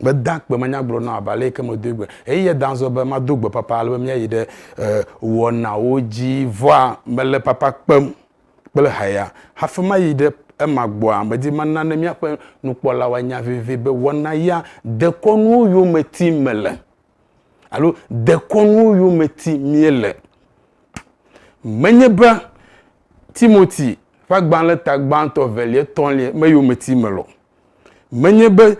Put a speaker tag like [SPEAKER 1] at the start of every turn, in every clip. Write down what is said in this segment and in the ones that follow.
[SPEAKER 1] meda kpe manyagblɔ na abe ale yike medoe gbe eye yeda azɔ be mado gbe papa ale be míayi ɖe wɔnawo dzi vɔa mele papa kpem kple haya hafi mayi ɖe ema gbɔa, medi be nane míaƒe nukpɔlawo anya vevie be wɔna ya dekɔnuwo yome tim mele alo dekɔnuwo yome tim míele. Menye be Timothy ƒe agbalẽ ta gbãtɔ, evelia, etɔ̃lia me yome tim mele o. Menye be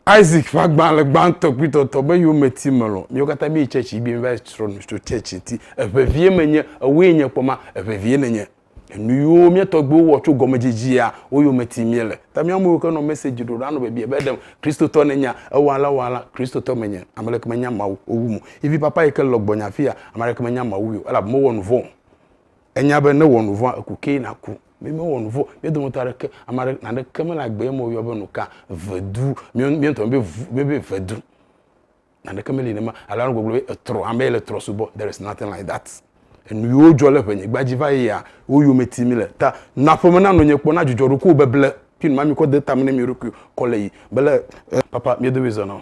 [SPEAKER 1] Isaac ƒe agba le gbãtɔ kpli tɔtɔ be yewo me ti melɔ. Míwo katã míyi tsɛtsi yibim va yi srɔ nu tso tsɛtsi ŋti. Eŋe vie me nye, ewoe nye kpɔ ma, eŋe vie ne nye. Enu yiwo mía tɔgbuiwo wɔ tso gɔme dzidzia, wo yo me ti mí le. Ta mía me yiwo ke nɔ message ɖoɖa nɔ biabia be ɖem Kristotɔ ne nyea, ewa alea wa alea, Kristotɔ me nye. Ame ɖeke me nya Mawu o wu mo. Ivi papa yike le gbɔnye afia, ame aɖeke me nya Mawu wui o, elabe me wɔ nuvɔ̃ o. Enya be ne wɔ nu vɔ̃a, eku kee naku. Mi mewɔ nu vɔ̃. Mia dometɔ aɖeke, ame aɖe, naneke mele agbee me woyɔ be nuka, vedu, mia ŋutɔ míebe vu, míebe vedu. Naneke meli nene ma. Ale anɔ gbɔgblɔ be etrɔ, ame yi le trɔ subɔ. There is nothing like that. Enu yiwo dzɔ le ŋenyigba dzi va yia, wo yome tim mile. Ta na ƒe me nanɔ nye kpɔ, na dzudzɔ ɖokuiwò beble. Fi ma mi kɔ de tame ne mia ɖokuiwo kɔ le yiyim. Mele, e, papa mia domi zɔnɔ.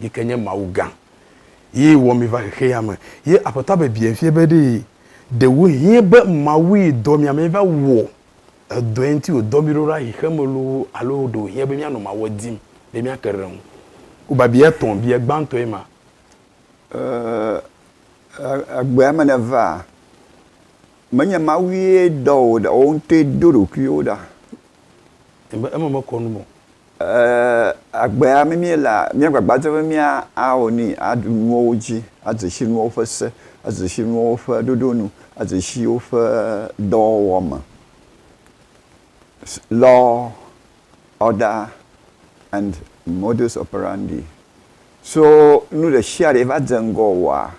[SPEAKER 1] yi ke nye Mawu gã, ye wɔ mi va xexea me. Ye Aƒetɔa biabiae fia be, Ɖe ɖewohĩ be Mawue dɔ mia be miava wɔ edɔe ŋuti wòdɔ mi ɖo ɖa xexea me loo alo ɖe wòhiã be míanɔ Mawua dim be míake ɖe eŋu? Ku biabiae etɔ̃, biae gbãtɔe ma. Ee,
[SPEAKER 2] egbea me nèvaa. Menye Mawue dɔ wò ɖa o, wò ŋutɔe do ɖokuiwò ɖa.
[SPEAKER 1] Eme mekɔ nu me o. Ɛɛ,
[SPEAKER 2] agbea mí míelea, míagbagba dzem be míawɔ nui, aɖu nuawo dzi, adze si nuawo ƒe se, adze si nuawo ƒe ɖoɖo nu, adze si woƒe dɔwɔwɔ me, law, order and modus operandi. So nu ɖe sia ɖe va dze ŋgɔ wòa,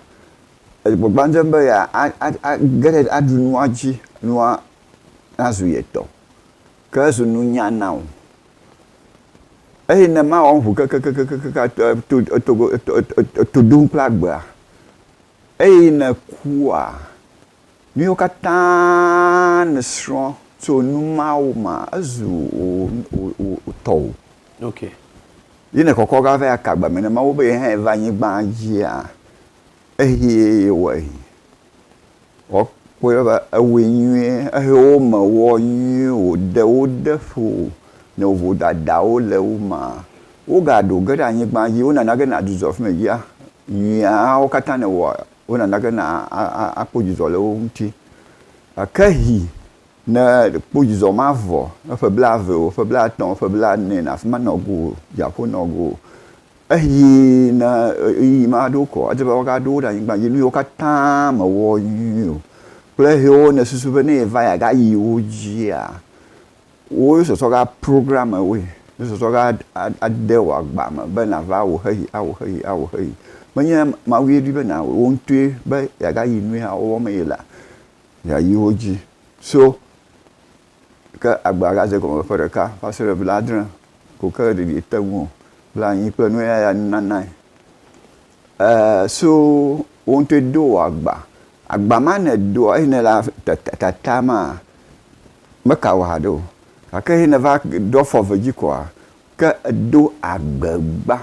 [SPEAKER 2] egbagba dzem be yea, a, a, a, ge ɖe, aɖu nua dzi, nua nazu ye tɔ. Ke ezu nunya na wò. Eye ne mawɔ ŋu kekekekekekekeŋ ato eto etogo eto eto eto eto ɖom kple agbea, eye nèkua, nuyiwo katã nèsrɔ̃ tso nu mawo mea, ezu wò wò wò wò tɔwò. Ok.
[SPEAKER 1] Ye
[SPEAKER 2] nèkɔkɔ va va yi aka agbame ne Mawu be yehãe va anyigbaa dzia, Eyi ye wɔ yi. Wɔ kpɔe va ewɔe nyuie ehe wo me wɔ nyuie wode wo de ƒo nɔ vodadawo le wo me. Woga ɖo ge ɖe anyigba dzi wo nana ge na dzudzɔ fi me dzia nyuiawo katã ne wɔ wo nana ge na a kpɔ dzudzɔ le wo ŋuti. Gake yi ne kpɔ dzudzɔ ma vɔ eƒe bla ve o, ƒe bla tɔ̃, ƒe bla ne le afima nɔ go o, dziaƒo nɔ go o Eyi na ɣeyiɣi maɖo ko wòadze be woagaɖo wo ɖe anyigba dzi nu yiwo katã mewɔ nyuie o kple hewo nèsusu be ne yeva ya gayi wo dzia, wò sɔsɔ ga programme woe, wò sɔsɔ ga ade wò agba me be nàva wò xexi, awò xexi, awò xexi. Menye Mawue ɖoe be nàwɔe wò ŋutɔe be yeagayi nuya wɔwɔ me ye la, yeayi wo dzi. So Ke agba la de gɔme ƒe ɖeka va se ɖe blaadre ko ke ɖeɖi ete ŋu o. Blanyi kple nuyaya nunanae ee so wò ŋutɔe do wò agba. Agba ma nèdoa eye nèle tatam maa, meka wò haɖe o. Gake eye nèva ɖo afɔ eve dzi koa, ke èdo agbegba.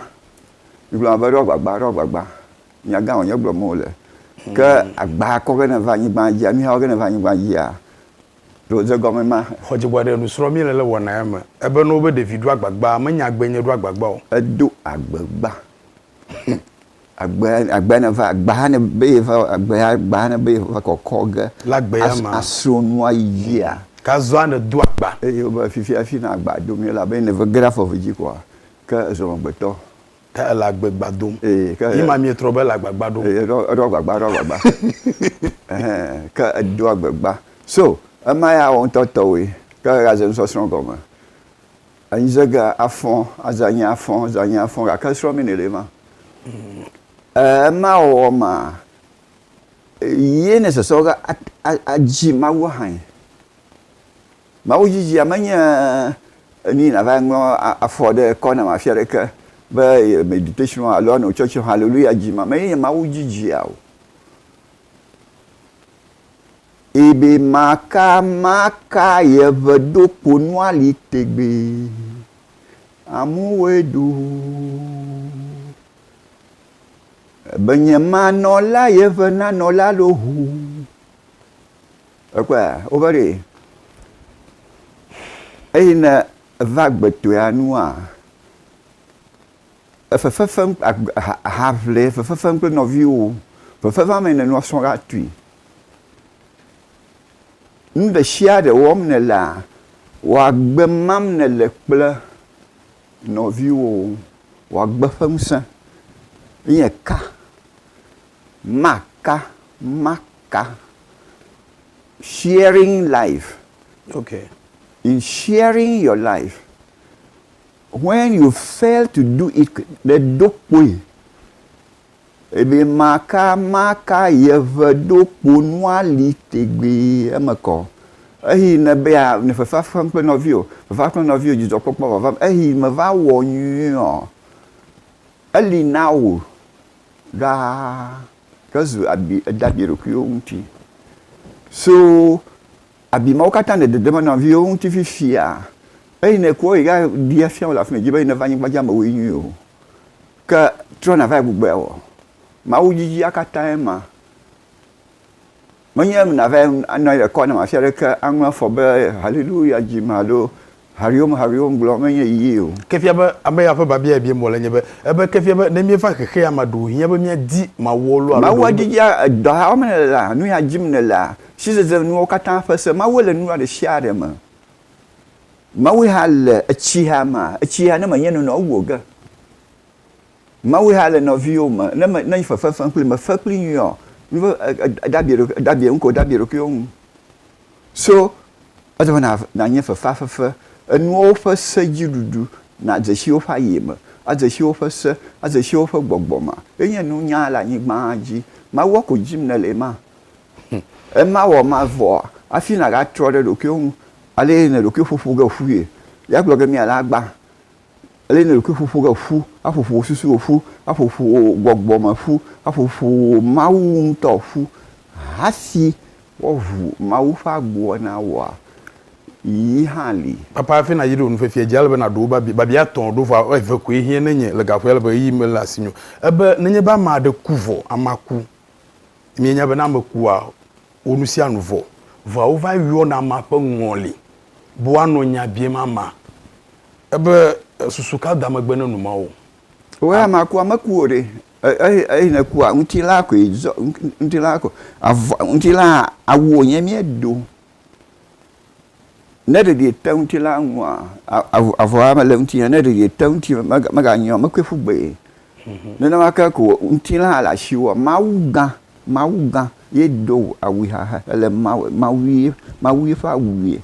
[SPEAKER 2] Migblɔna be ɖo agbagba, ɖo agbagba. Nya gã wònye gblɔm wole. Ke agba kɔ ge ne va anyigba dzia, nuya wɔ ge ne va anyigba dzia, Ɖo ze gɔme ma he. Xɔ dzigbɔ aɖe nusrɔ
[SPEAKER 1] mi le le wɔna ya me. Ebe no be ɖevi ɖo agbagba, me nya agbe nye ɖo agbagba o. Edo agbe
[SPEAKER 2] gba. Hm. Agbe, agbe ne va, agba ne be ye va, agbe, agba ne be ye va kɔkɔ ge. Le agbe ya me. As,
[SPEAKER 1] asrɔ nua yia.
[SPEAKER 2] Ka zɔa ne do
[SPEAKER 1] agba. Eye wo be fifia fi
[SPEAKER 2] na agba do mi ela be ne ve ge ɖe afɔ ve dzi kɔa, ke ezɔmegbetɔ. Ta ele agbegba
[SPEAKER 1] dom. Ee, ke. Yi ma mietrɔ be ele agbagba ɖom. Ee, eɖo, eɖo agbagba, eɖo agbagba.
[SPEAKER 2] Ɛhɛ, ke edo agbegba. So, ema ya wo ŋutɔ tɔwoe. Ke egaze nusɔsrɔ̃ gɔme. Anyize ge afɔ̃, aze anyi afɔ̃, aze anyi afɔ̃, gake srɔ̃ mi nɛ ɖe ma. Ɛɛ, ema wɔwɔ maa, ye nɛ sɔsrɔ̃ ge a, a, adzi Mawu ahanyi. Mawu dzidzia menye enu si nàva ŋlɔ afɔ ɖe ekɔ nam afi aɖeke be meditation alo ano tsɔtsɔ haleluya dzi ma mee nye Mawu dzidzia o. Ebe maka maka ye ŋe ɖo kponu ali tegbee. Amuwoe ɖo. Ebe nye manɔla ye ŋe nanɔla ɖo ŋu. Ekpɔe a? Wova ɖee. Eye ne eva agbetɔea nua, efefefem haʋle fefefem kple nɔviwo, fefefem me nènɔ srɔ̃ la tui. Nu ɖe sia ɖe wɔm nèlea, wò agbe mam nèle kple nɔviwo, wò agbe ƒe ŋusẽ. Nye ka, maka, ka sharing life okay
[SPEAKER 1] in
[SPEAKER 2] sharing your life when you fail to do it ɖe ɖo kpoe ebe maka maka yeve ɖo kpo nua li tegbee eme kɔ eyi ne be ya ne fefa fem kple nɔvi o fefa kple nɔvi o dzidzɔ kpɔkpɔ vava eyi me va wɔ nyuiɔ eli na wò ɖaa. ke zu abi ede abi ɖokuiwo ŋuti. So abi mawo katã nè dede me nɔviwo ŋuti fifia eyi nè kpɔ yi ga ɖia fia wole afima yi dzi be neva anyigba dzi amewoe nyi o. Ke trɔ na va yi gbugbɔe wɔ. Mawu dzidzia katã ye ma. Menye be nàva anɔ anyi ɖe kɔ nam afi aɖeke aŋlɔ afɔ be Haleluya dzim alo Hariom Hariom gblɔm menye yiyi o. Ke fia be amea
[SPEAKER 1] ƒe biabia biam wòle nye be, ebe ke fia be ne míeva xexea mea, ɖe wòhiã be míadi Mawuɔ loo alo ɖe Mawua wònye be. didia dɔha
[SPEAKER 2] wɔm nèlea, nuya dzim nèlea, sizezenuwo katã ƒe se. Mawue le nua ɖesiaɖe me. Mawue hã le etsiha mea, etsiha ne menye nɔnɔ wu o ge. Mawu ya le nɔviwo me. Ne me, ne fefe fem kpli me fe kpli nyuiɔ, mi be e, e, e dabie ɖokuiɔ, dabie ŋkeo, dabie ɖokuiɔ ŋu. So edze be na, na nye fefea fefe, enuwo ƒe se dzi ɖuɖu, na dze si woƒe aye me, a dze si woƒe se, a dze si woƒe gbɔgbɔ ma. Ye nye nunya le anyigba dzi. Mawua ko dim nele ema. Ema wɔ ma vɔa, afi na ga trɔ ɖe ɖokuiɔ ŋu. Ale ne ɖokui ƒoƒo ge ƒuie, ya gblɔ ge mia le agba. Ele nɔ ɖokui ƒoƒo ge ƒu, aƒo ƒo wò susuwo ƒu, aƒo ƒo wò gbɔgbɔ me ƒu, aƒo ƒo wò Mawu ŋutɔ ƒu. Hasi woaʋu Mawu ƒe agboa na wòa yi hã li. Papa hafi nàyi ɖo
[SPEAKER 1] nufiafia dzi, ele be nàɖo wo babia, babia etɔ̃ ɖo vɔa eve koe hiã ne nye le gaƒoea le be ɣeyiɣi mele asinye o. Ebe nenye be ame aɖe ku vɔ, amea ku. Mienya be ne ame kua, wo nu sia nu vɔ. Vɔa wova yɔna amea ƒe ŋɔli be woanɔ nya biam amea ebe susu ka da megbe ne nu ma o. Wo amea kua,
[SPEAKER 2] meku o ɖe. Eyi nekua, ŋutilaa koe zɔ, ŋutilaa ko. Avɔ, ŋutilaa awu wònye míedo. Ne ɖeɖi ete ŋuti la, ŋua, avɔa mele ŋutinye, ne ɖeɖi ete ŋuti meganyɔ, mekɔe ƒu gbee. Mhm. Nenema ke ko ŋutilã hã le asiwò, Mawu gã, Mawu gã ye do awui xaxe ele Mawu, Mawue, Mawue ƒe awui.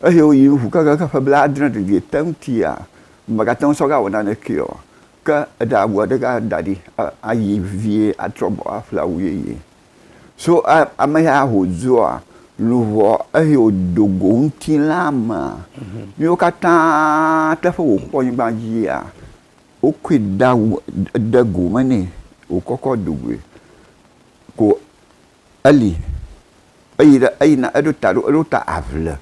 [SPEAKER 2] Ehe woyi ŋu kekeake ƒe blaadre ɖeɖi ete ŋutia, mègate ŋu sɔ gawɔ nanekee o. Ke eɖe awua ɖe gã da ɖi ayi vevie atrɔ gbɔ aƒle awu yeye. So ameya wòzua luʋɔ eye wòdo go ŋutilã mea, míwo katã teƒe wòkpɔ nyigba dzia, wokɔe da wu de go me nɛ wòkɔkɔ do goe ko eli eyi ɖe eyina eɖo ta ɖo eɖo ta aʋle.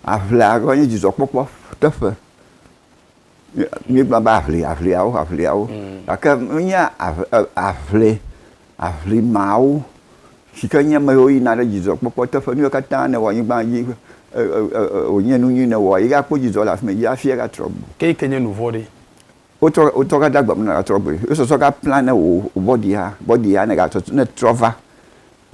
[SPEAKER 2] Aʋlea gɔme nye dzidzɔkpɔkpɔ teƒe. Míegblɔna be aʋli, aʋliawo, aʋliawo, gake menye aʋli, aʋli mawo si ke nye ame yiwo yina ɖe dzidzɔkpɔkpɔ teƒe, nu yiwo katã nèwɔ le anyigba dzi, wònye nu nyui nèwɔ, ye akpɔ dzidzɔ le afi ma, ye hafi atrɔ agbɔ o. Ke yi ke nye nu vɔ̃ɖi? Wotrɔ gade agbe me ne nàtrɔ agbɔe. Wosɔsɔ gaplane wò bɔdia, bɔdia ne ètrɔ va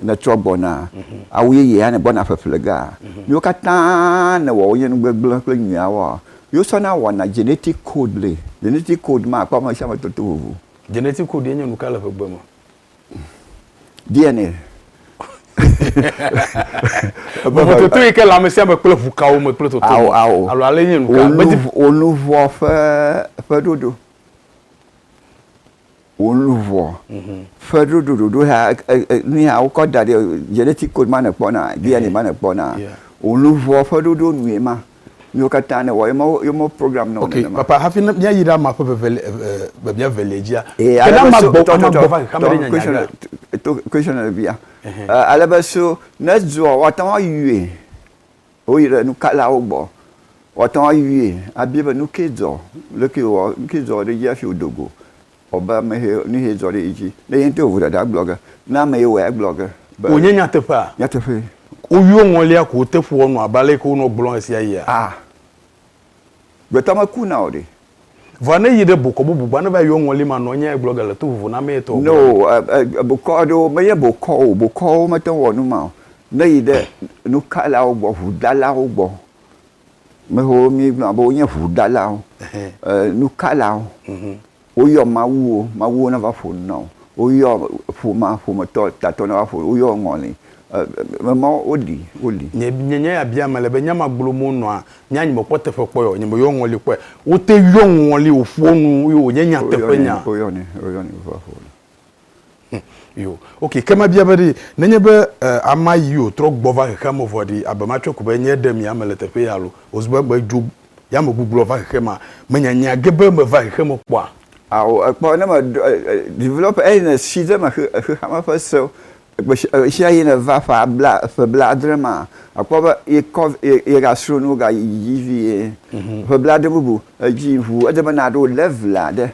[SPEAKER 2] Nètrɔ gbɔna, awu yeye hã nègbɔna ƒeƒle ge a? Nuwo katã nèwɔ wonye nu gbegblẽ kple nyuiawoa? Ye wosɔna wɔna genetic code le. Genetic code ma akpɔ amesiame toto vovo. Genetic code
[SPEAKER 1] ye nye nuka le ƒegbe me? DNA. Vovototo yi ke le amesiame kple ʋu kawo me kple toto me alo ale nye nuka? Wò
[SPEAKER 2] luʋɔ ƒe
[SPEAKER 1] ƒeɖoɖo.
[SPEAKER 2] wò luʋɔ ƒe ɖoɖoɖoɖo ya nuya wokɔ da ɖi genetic code ma nèkpɔ na DNA ma nèkpɔ na wò luʋɔ ƒe ɖoɖo nue ma nuwo katã nèwɔ ye ma ye ma program nɔ nenema. Ok papa hafi ne mía
[SPEAKER 1] yi ɖe ama ƒe veveli e mía velia dzia e ke ne ama gbɔ ama gbɔ va xexeame
[SPEAKER 2] ɖe nya nya ɖe. To question nɔ ɖevia ale be so ne zua woate ŋu ayɔe. Woyi ɖe nukalawo gbɔ. Woate ŋu ayɔe abia be, Nu kae dzɔ? Nu kae wɔ? Nu kae dzɔ ɖe edzi hafi wòdo go? Wɔ be ame ye, nu ye dzɔ ɖe ye dzi. Ne ye ŋutɔ wò ɖaɖa agblɔ ge. Ne ame ye wɔe agblɔ ge be. Wònye nyateƒea?
[SPEAKER 1] Nyateƒee.
[SPEAKER 2] Woyɔ ŋɔlia
[SPEAKER 1] ko wote ƒua nu abe ale ke wonɔ gblɔm ɣesiaɣia? A.
[SPEAKER 2] Gbetɔ meku na o ɖe. Vɔa ne yi
[SPEAKER 1] ɖe bokɔ bubu gbɔ ne va yi yɔ ŋɔli ma nɔ nya gblɔ ge le to vovo na mee tɔ. No
[SPEAKER 2] bokɔ aɖewo me nye bokɔ o bokɔwo me te wɔ nu ma o ne yi ɖe nukalawo gbɔ ʋu ɖalawo gbɔ me xo mi gblɔ na be wo nye ʋu ɖalawo nukalawo Woyɔ mawuwo, mawuwo nava ƒo nu na wò. Woyɔ ƒomea, ƒometɔ, tatɔ nava ƒo nu. Woyɔ ŋɔli, e, e, mawo, woli, woli. Nye, nye nya ya
[SPEAKER 1] biam mele be, nya ma gblom wonɔa, nye anyi mekpɔ teƒe kpɔe o, nye meyɔ ŋɔli kpɔe. Wote yɔ ŋɔli wòƒoa nu ye wònye nyateƒenya. Woyɔnɛ, woyɔnɛ, woyɔnɛ
[SPEAKER 2] be va ƒo nu. Yo.
[SPEAKER 1] Ok, ke mabia be ɖe nenye be ama yi o trɔ gbɔ va xexea me vɔ ɖe abe matsɔe ko be nye ɖe mia me le teƒe ya lo. Oz be me dzo ya me gugblɔ va xexe ma me nya nya ge be me va xexe me kpɔa. Ao ekpɔ ne
[SPEAKER 2] me ɖɔ develop eyi ne si ɖe me xe xexea me ƒe sewo gbe sia gbe sia yi ne va ƒe bla ƒe bla adre ma akpɔ be ye kɔ ye ye ga sro nuwo ga yi dzi vie ƒe bla adre bubu edzi ʋu ede be na ɖo level aɖe.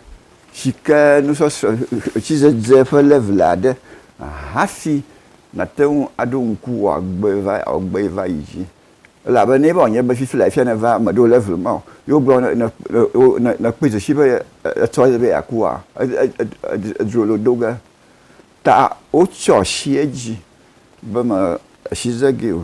[SPEAKER 2] Tsike nusɔsrɔ̃ tsidzedze ƒe level aɖe hafi nàte ŋu aɖo ŋku wò agbe va wò agbe va yi dzi. Elabe ne eva wònye be fifi la fia nèva eme ɖo level ma o, ye wogblɔ ne ne ne nèkpɔe dzesi be etsɔ be yeakua, edzro le wò do ge. Ta wotsyɔ asi edzi be me asi ze gee o.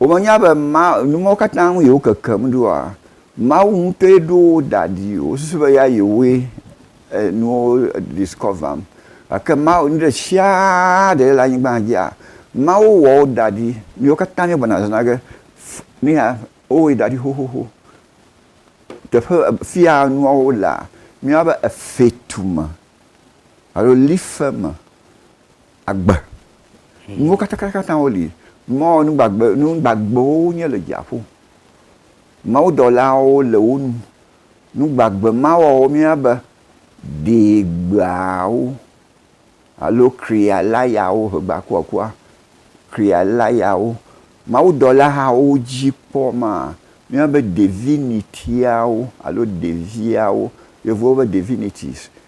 [SPEAKER 2] Womenya be ma, nu mawo katã ŋu yewo kekem ɖoa? Mawu ŋutɔe ɖo wo da ɖi. Wosusu be ya yewoe enuwo discover-m. Gake Mawu, nu ɖe sia ɖe le anyigba dzia, Mawu wɔ wo da ɖi. Míwo katã míegblɔna zãzã ge, nu ya, wowɔe da ɖi xoxoxo. Teƒe, fia nuawo lea, míeyɔna be efetu me alo life me. agbe. Nuwo katãkatã woli. Mɔ nu gbagbe, nu gbagbewo wonye le dziaƒo. Mawudɔlawo le wo nu. Nu gbagbe ma wɔwɔ mía be deegbeawo alo krialayawo, hegbakuakua, krialayawo. Mawudɔla hawo dzi kpɔ ma míabe devinitiawo alo deviawo, Yevuwo be divinities,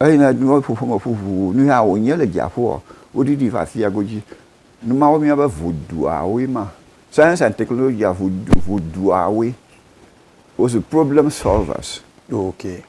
[SPEAKER 2] Eyime nuwo ƒoƒo me ƒu ʋuu nu ya wònye le dziaƒoɔ, woɖiɖii va Asiago dzi. Nu mawo míabe ŋuduawoe ma. Science and technology ŋu ŋuduawoe. Wozu problem solvers. Ok.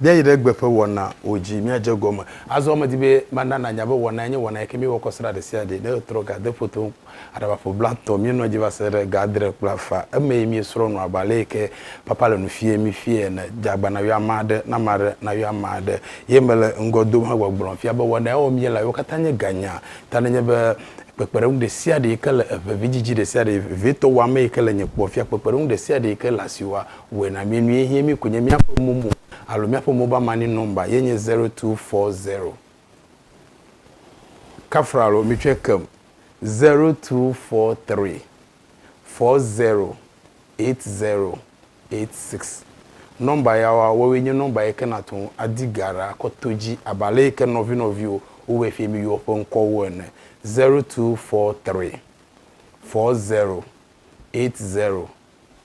[SPEAKER 1] Míayi ɖe gbe ƒe wɔnawo dzi. Míadze egɔme. Azɔ medi be mana nànya be wɔnae nye wɔna yi ke míewɔ kɔ srã ɖesiaɖe. Ne ètrɔ ga, de foto ŋu. Aɖaba ƒe blatɔ, míenɔa edzi va se ɖe ga adre kple afã. Emee míesrɔ̃ nu abe ale yi ke papa le nu fiae mí fiae ene. Dze agba nàyɔ ame aɖe, ne ame aɖe nayɔ ame aɖe. Ye mele ŋgɔ dom hegbɔgblɔm fia be wɔna yawo míelawo katã nye ganya. Ta nenye be kpekpeɖeŋu ɖesiaɖe yi ke le eve vidzidzi ɖesiaɖe vevitɔ wɔame yi ke le nye kpɔ fia kpekpeɖeŋu ɖesiaɖe yi ke le asiwòa, wɔe na mí nue hɛ̃ mí konye míaƒe momo alo míaƒe mobile money number ye nye zero two four zero. Kafra alo mitsɔe kem zero two four three four zero eight zero eight six nɔmba yawoa woawoe nye nɔmba yike nàte ŋu adi ga ɖa kɔ to dzi abe aleyike nɔvinɔviwo wowɔe fie miyɔ woƒe ŋkɔwo ene zero two four three four zero eight zero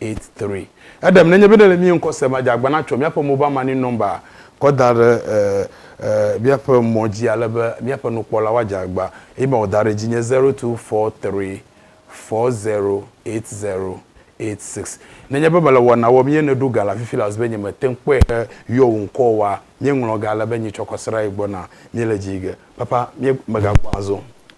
[SPEAKER 1] eight three. Eɖem nenye be ne le mía ŋkɔ sem adze agbã na tsɔ míaƒe mobile money number kɔ da ɖe e e míaƒe mɔ dzi ale be míaƒe nukpɔlawo adze agbã. Eye ma wò da ɖe edzi nye zero two four three four zero eight zero eight six. Nenye be mele wɔna wɔm ye nèɖo ga le afi fila zi be nye mete ŋu kpɔe he yɔ wò ŋkɔ oa, míeŋlɔ ga ale be nyi tsɔ kɔ srã yi gbɔ na. Míele dzi yi ge. Papa, mí megakpɔ azɔ o.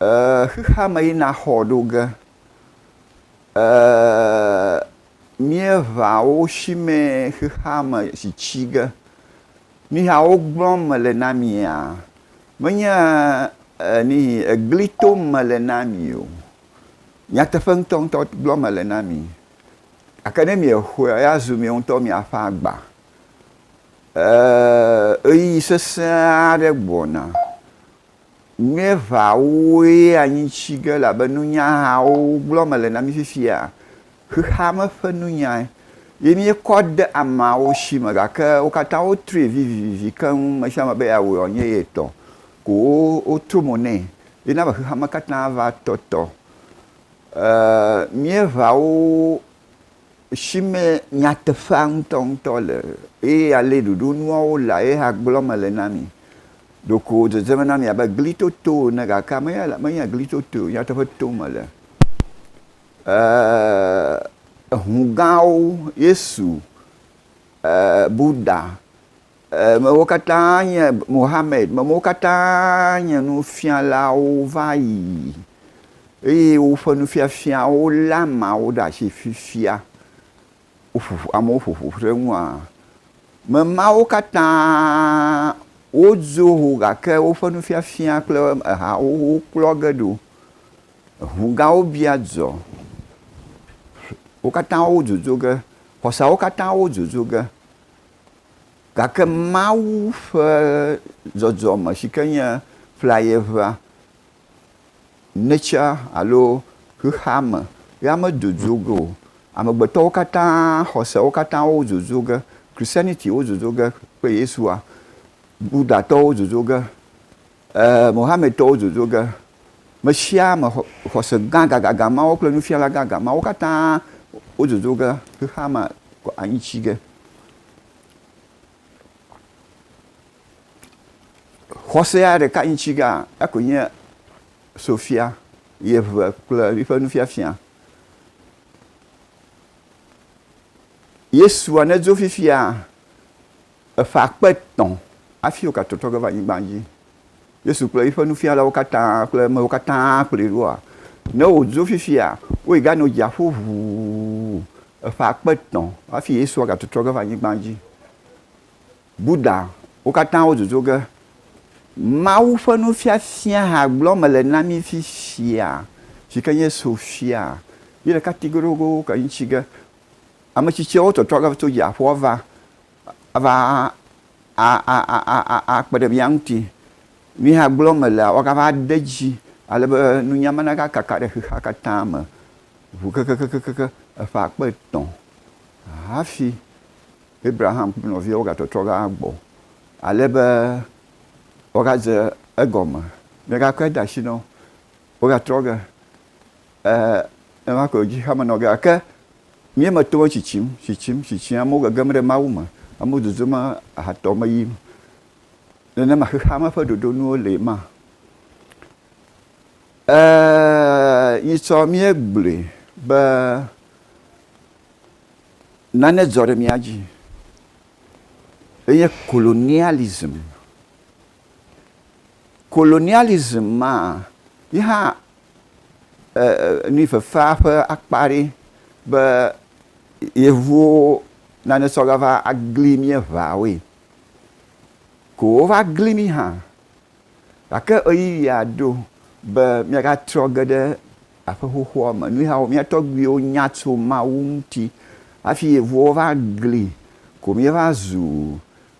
[SPEAKER 2] Ee, xexea me yi naxɔ ɖo ge. Ee, míeʋa wo shimɛ xexea me si tsi ge. Nuya wo gblɔm mele na mia, menye nihi egli tom mele na mi o. Nyateƒe ŋutɔŋutɔ gblɔm mele na mi. Gake ne miexɔea, ya zu mi ŋutɔ mia ƒe agba. Ee, ɣeyiɣi sesẽ aɖe gbɔna. Míeʋãwoe anyi tsi ge elabe nunyahawo gblɔ mele na mí fifia. Xexea me ƒe nunyae ye míekɔ de ameawo si me gake wo katã wotrui vivivi keŋ, me sia me be yeawɔe wòanye ye tɔ ko wotro mo nɛ ye na be xexea me katã va tɔtɔ. E Míeʋãwo. si me nyateƒea ŋutɔŋutɔ le eye ale ɖoɖo nuawo lea, ye hã gblɔm mele na mi. Ɖeko wòdzedze me na mi abe gli toto ene gake menye gli totoe o, nyateƒe tom mele. Ʋu gãwo, Yesu, Buda, Mewo katã nye Mohammed, mewo katã nye nufialawo va yi, eye woƒe nufiafiawo lé ameawo ɖe asi fifia. Woƒoƒo, amewo ƒoƒo ƒu ɖe eŋua? Ame mawo katã wodzo ho gake woƒe nufiafia kple eha xoxowo kplɔ ge ɖo. Eŋu gãwo bia dzɔ. Wo katã wodzodzo ge. Xɔseawo katã wodzodzo ge. Gake Mawu ƒe zɔzɔme si ke nye flayeʋea, nature alo xexeame ya mezozo ge o. Amegbetɔwo katã, xɔsewo katã wozozo ge. Christianity wozozo ge kple Yesua. Buddhatɔwo zozo ge. Ɛ̃, Mohammedtɔwo zozo ge. Mesiame xɔse gã gãgãgã mawo kple nufiala gãgã mawo katã wozozo ge xexea me kɔ anyi tsi ge. Xɔsea ɖeka nyi tsi gea, ekɔe nye Sofia, yeʋe kple yiƒe nufiafia. Yesua nedzo fifia, Eƒe akpe etɔ̃ hafi wogatotɔ ge va anyigba dzi. Yesu kple eƒe nufialawo katã kple amewo katã kplɔe ɖoa? Ne wòdzo fifia, woyi ganɔ dziaƒo ʋuu eƒe akpe etɔ̃ hafi Yesua gatotɔ ge va anyigba dzi. Buddha, wo katã wodzodzo ge. Mawu ƒe nufiafia hã gblɔm mele na mí fifia, si ke nye sofia. Yi ɖeka ti goɖogoɖo ke ŋuti ge. Ame tsitsiawo tɔtrɔ ge tso dziaƒoa va ava akpe ɖe mía ŋuti. Nu yi hã gblɔm melea, woagava ade edzi ale be nunya ma nava kaka ɖe xexea katã me ŋu kekekekekekke eƒe akpe etɔ̃ hafi Abraham kple nɔviawo agatɔtrɔ va gbɔ ale be woagadze egɔme. Míegakɔe de asi na wo, wogatrɔ ge. Ɛɛ, ema koe wòdzi hamenɔ ge. Gake mía me tɔwo tsitsim, tsitsim, tsitsim. Amewo gegem ɖe Mawu me. Amewo zozom ahatɔ me yim. Nenema xexea me ƒe ɖoɖonuwo lee ma. Ɛɛ, nyitsɔ míegblɔe be nane dzɔ ɖe mía dzi. Enye colonialism. Colonialism maa, yi hã nuvifefea ƒe akpa aɖee be Yevuwo nane tsɔ va gli mí eŋawoe. Ko wova gli mí hã. Gake ɣeyiɣia ɖo be míagatrɔ ge ɖe aƒe xoxoa me. Nu yawo mía tɔgbuiwo nya tso Mawu ŋuti. Hafi Yevuwo va gli ko míeva zu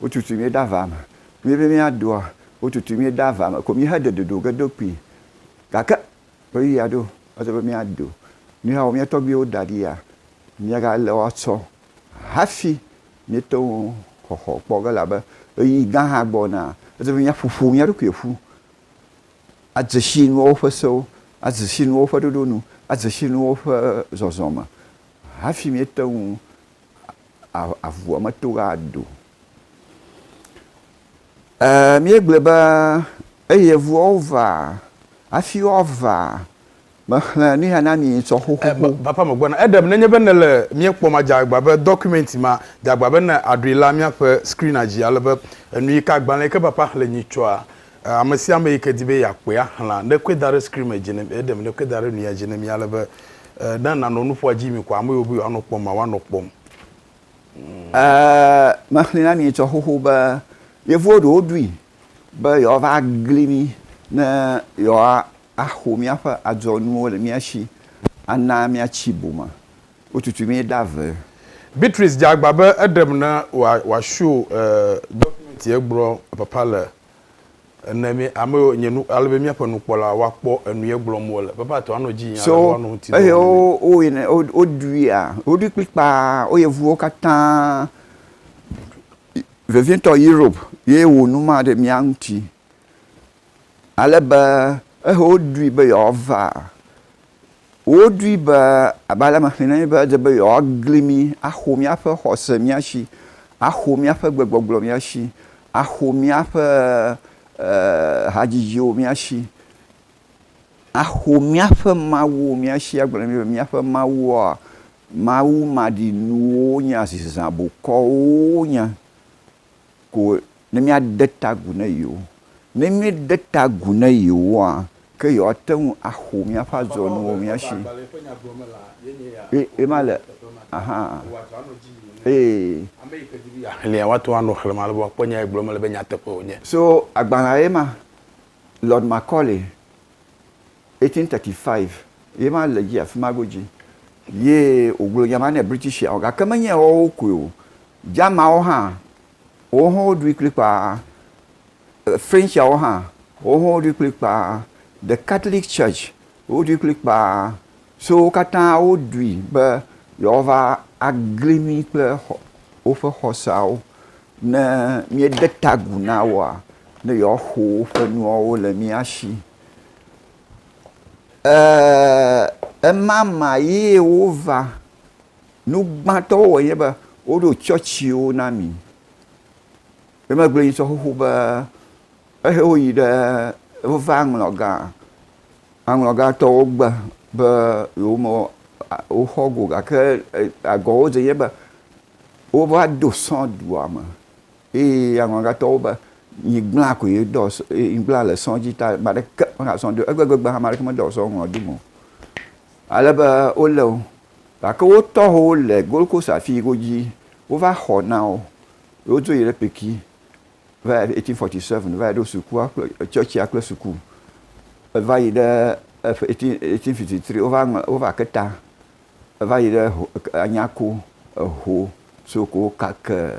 [SPEAKER 2] Wotutui mí ɖe aʋa me. Mí be míadoa, wotutui mí ɖe aʋa me ko mí heɖe ɖoɖo ge do kpi. Gake ɣeyiɣia ɖo eze be míado. Míexɔ mía tɔgbuiwo da ɖi ya, míaga le woatsɔ hafi míete ŋu xɔxɔ kpɔ ge elabe ɣeyiɣi gã hã gbɔna. Eze be míaƒo ƒo mía ɖokui ƒu adze si nuawo ƒe sewo, adze si nuawo ƒe ɖoɖo nu, adze si nuawo ƒe zɔzɔ me hafi míete ŋu avua me to ɣa do. Eeee míegblɔe be eye evuawo va hafi woava mexlẽ nu ya na mi ŋutɔ xoxoxo. Papa megbɔna. Eɖem
[SPEAKER 1] nenye be nèle mía kpɔm adze agba be dɔkumɛnti ma dze agba be ne àɖoe la míaƒe skrinadzi ale be enuyi ka agbalẽe ke papa xlẽ nyi tsɔa Ame sia ame yi ke di be yeakpɔe axlã, ne ekɔe da ɖe screen me dzi na mi, eɖem, ne ekɔe da ɖe nuya dzi na mi ale be ne nanɔ nuƒoa dzi mi ko ame yiwo be yewoanɔ kpɔm ma woanɔ kpɔm.
[SPEAKER 2] Mexlẽ na mi etsɔ xoxo be yevuwo ɖewo ɖui be yewoava agli mí ne yewoaxo míaƒe adzɔnuwo le mía shi ana míatsi boma. Wotutu mí ɖa ve. Beatrice dze
[SPEAKER 1] agba be eɖem ne wòasho dɔkumɛnti egblɔ papa le ene mɛ ame yiwo nye nu ale be míaƒe nukpɔla woakpɔ enu ye gblɔm wole. Papa tɔ anɔ dzi nya ale be woanɔ ŋuti dɔ wɔm ne mí. So ehe
[SPEAKER 2] woyina woɖuia woɖui kplikpaa wo yevuwo katã vevietɔ Europe ye wɔ nu ma ɖe mía ŋuti ale be ehe woɖui be yewoava Woɖoe be, abe ale mexlẽ na mi be ede be yewoagli mí, axo míaƒe xɔse mía si, axo míaƒe gbegbɔgblɔ mía si, axo míaƒe hadzidziwo mía si, axo míaƒe mawuwo mía si, agblɔ na mí be míaƒe mawuwoa, mawu maɖinuwo wonye, azizã bokɔwo wonye. ko ne míade ta agu na yewo. Ne míede ta agu na yewoa, ke yewoate ŋu axo míaƒe adzɔnuwo mía si. Ye, ye ma le, ahan, ee.
[SPEAKER 1] Xlẽa, woate ŋu anɔ xlẽm ale be woakpɔ nya yi gblɔm mele be nyateƒe wònye. So agbalẽa
[SPEAKER 2] ye ma. Lord Macaulay, 1835, ye ma le edzi afima godzi. Ye wògblɔ nya ma nɛ British-awo, gake menye woawo koe o. Germanwo hã, wowo hã woɖui kplikpaa. Frenchiawo hã, wowo hã woɖui kplikpaa. The Catholic Church, woɖui kplikpaa. So wo katã woɖui be yewoava agli mí kple xɔ, woƒe xɔseawo. Ne míede ta agu na woa, ne yewoaxo woƒe nuawo le mía shi. Ɛɛ, emama ye wova. Nu gbãtɔ wowɔ nye be woɖo tsɔtsiwo na mi. Emegbe yi sɔ xoxo be ehe woyi ɖe wova aŋlɔ gã. Aŋlɔ gã tɔ wogbe be yewo me woxɔ go gake agɔ wodze nye be wova do sɔ dua me eye aŋlɔ gã tɔ wo be nyigblã ko ye dɔ nyigblã le sɔ dzi ta ame aɖeke mexɔ sɔ do egbegbe hã ame aɖeke medɔ sɔ ŋlɔ do me o. Ale be wole wo. Gake wo tɔho le Gold Coast afii godzi wova xɔ na wo. Ye wodzo yi ɖe Peki va yi eighteen forty seven va yi ɖo sukua kple tsɔtsia kple suku. Eva yi ɖe eighteen eighteen fifty three wova ŋlɔ wova ke ta va yi ɖe Anyako, Eho, Soko, Kake